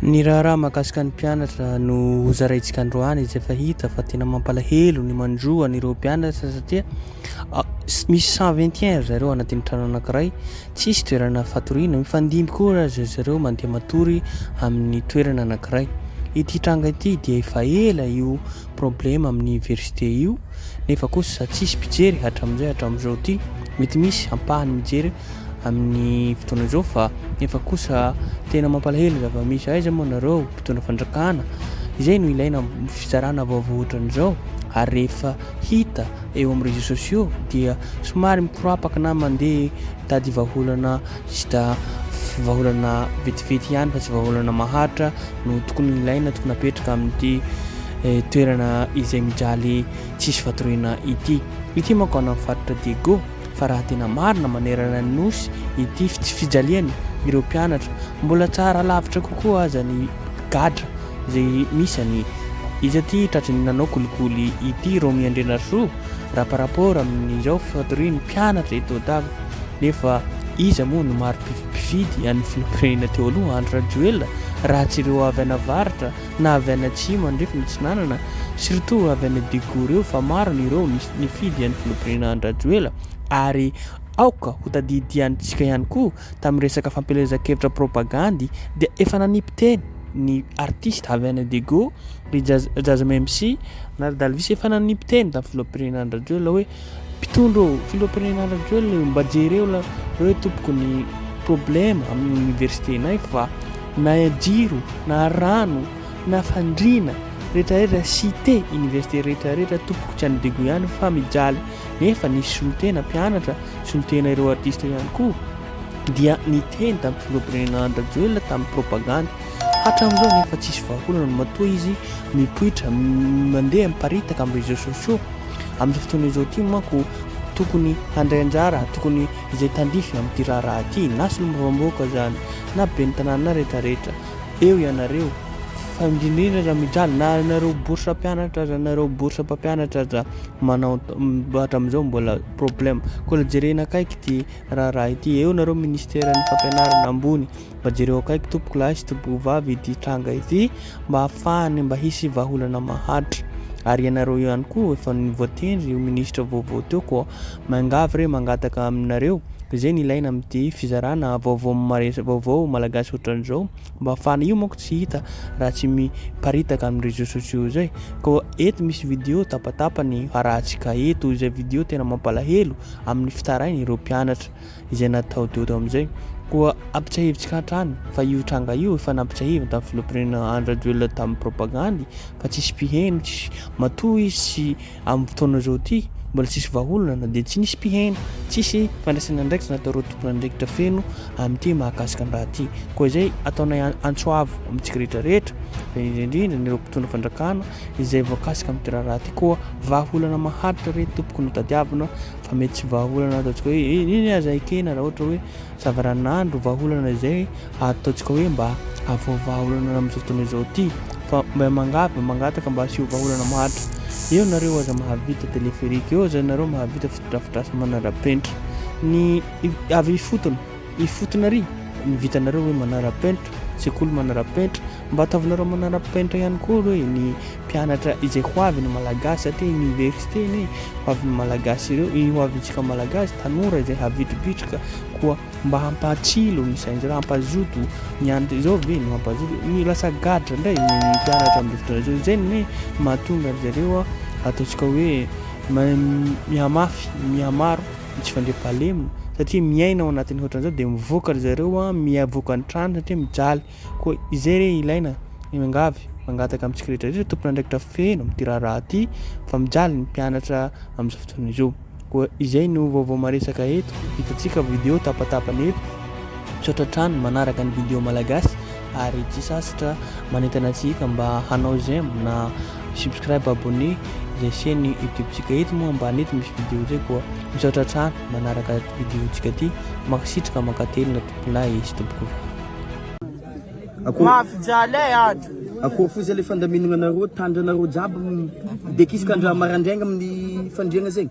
Ny raharaha mahakasika ny mpianatra no hozaraintsika androany izay efa hita fa tena mampalahelo ny manjo an'ireo mpianatra satria misy cent vingt et un ry zareo anatin'ny trano anankiray, tsy hisy toerana fatoriana, mifandimby koa ry zareo mandeha matory amin'ny toerana anankiray. Ity tranga ity dia efa ela io. problème amin'ny université io nefa kosa tsisy mpijery hatramin'izay hatramin'izao ity mety misy ampahany mijery amin'ny fotoana izao fa nefa kosa tena mampalahelo zava-misy aiza moa nareo mpitondra fandrakana izay no ilaina fizarana vaovao ohatran'izao ary rehefa hita eo amin'ny réseaux sociaux dia somary mikorapaka na mandeha tady vahaolana Juste vahaolana vetivety ihany fa tsy vahaolana maharitra no tokony ilaina, tokony apetraka amin'ity toerana izay mijaly tsisy fatoriana ity. Ity manko any amin'ny faritra Diego fa raha tena marina manerana ny Nosy ity fijaliana ireo mpianatra, mbola tsara lavitra kokoa aza ny gadra izay misy any. Iza ity tratry ny nanao kolikoly ity Romy Andrianarisoa raha par rapport amin'izao fatorian'ny mpianatra eto Dago? Nefa iza moa no mari-pifidy an'ny filoham-pirenena teo aloha, Andry Rajoelina, raha tsy ireo avy an'avaratra na avy any atsimo andrefana atsinanana, surtout avy any Daegu ireo fa maro ny ireo nifidy an'ny filoham-pirenena Andry Rajoela ary aoka ho tadidiantsika ihany koa tamin'ny resaka fampielezan-kevitra propagandy dia efa nanipiteny ny artista avy any Daegu ry Jazz Jazz Memsy na ry Dalvis efa nanipiteny tamin'ny filoham-pirenena Andry Rajoelina hoe Mpitondra ô! Filoham-pirenena Andry Rajoelina io! Mba jereo la reo tompoko ny problème amin'ny université nay fa na jiro na rano na fandriana rehetra rehetra cité université rehetra rehetra tompoko tsy an'i Dego ihany fa mijaly nefa nisy solontena mpianatra solontena ireo artiste ihany koa dia niteny tamin'ny filoham-pirenena Andry Rajoelina tamin'ny propagande hatramin'izao nefa tsisy vahaolana matoa izy mipoitra mandeha miparitaka amin'ny réseaux sociaux Amin'izao fotoana izao ity manko tokony handray anjara, tokony izay tandrify amin'ity raharaha ity, na solombavambahoaka izany, na ben'ny tanàna, na rehetra rehetra, eo ianareo, fa indrindra indrindra aza mijaly, na ianareo bourse mpianatra aza, ianareo bourse mpampianatra aza manao, hatramin'izao mbola problème, koa jerena akaiky ity raharaha ity, eo nareo ministeran'ny fampianarana ambony, Mba jereo akaiky tompoko lahy sy tompoko vavy ity tranga ity mba hafahany mba hisy vahaolana maharitra. Ary ianareo ihany koa efa voatendry ho ministra vaovao teo koa miangavy re mangataka aminareo izay ny ilaina amin'ity fizarana vaovao maresaka vaovao malagasy ohatran'izao mba hafahana io manko tsy hita raha tsy miparitaka amin'ny réseaux sociaux izay koa eto misy vidéo tapatapany harahantsika eto izay vidéo tena mampalahelo amin'ny fitarainy ireo mpianatra izay natao Dodo amin'izay. Koa ampitsiahivintsika hatrany fa io tranga io efa nampitsiahiviny tamin'ny filoham-pirenena Andry Rajoelina tamin'ny propagandy fa tsisy mpiheno tsisy, matoa izy sy amin'ny fotoana izao ity mbola tsisy vahaolana dia tsy nisy mpiheno, tsisy fandraisana andraikitra nataoreo tompon'andraikitra feno amin'ity mahakasika ny raha ity. Koa izay ataonay antso avo amintsika rehetra rehetra fa indrindra ireo mpitondra fandrakana izay voakasika amin'ity raharaha ity koa vahaolana maharitra re tompoko no tadiavina Fa mety tsy vahaolana ataontsika hoe eny aza ekena raha ohatra hoe zavaranandro vahaolana izay ataontsika hoe mba avoha vahaolana amin'izao fotoana izao ity fa mba mangavy mba mangataka mba asio vahaolana maharitra eo nareo aza mahavita téléphérique eo aza nareo mahavita fotodrafitrasa manarapenitra ny avy ifotony Ifotony ary ny vitanareo hoe manara-penitra, sekoly manara-penitra, mba ataovinareo manara-penitra ihany koa aloha e, ny mpianatra izay ho avy ny Malagasy satria Université anie ho avin'ny Malagasy ireo, ho avintsika Malagasy, tanora izay havitribitrika koa mba hampatsilo ny sain'izareo, hampazoto ny an, izao ve no hampazoto, ny lasa gadra indray ny mpianatra amin'izao fotoana izao, izay no hoe mahatonga an-dry zareo ataontsika hoe mihamafy, mihamaro. dia tsy fandriampahalemina satria miaina ao anatin'ny hoatran'izao dia mivoaka ry zareo a, mivoaka ny trano satria mijaly. Koa izay re ilaina, miangavy, mangataka amintsika rehetra rehetra tompon'andraikitra feno amin'ity raharaha ity fa mijaly ny mpianatra amin'izao fotoana izao. Koa izay no vaovao maresaka eto, hitantsika video tapatapany eto. Misaotra hatrany manaraka ny video Malagasy ary tsy sasatra manentana antsika mba hanao j'aime na subscribe abonné izay chaîne youtube tsika eto moa ambany eto misy vidéo zay koa misaotra hatrany manaraka vidéo tsika ty mankasitraka mankatelina tomponay sy tompoko vavy Ako Mafijalay ato. Akory fo zay le fandaminagna nareo, tandra nareo jiaby dekisika andra marandraigna amin'ny fandriagna zegny.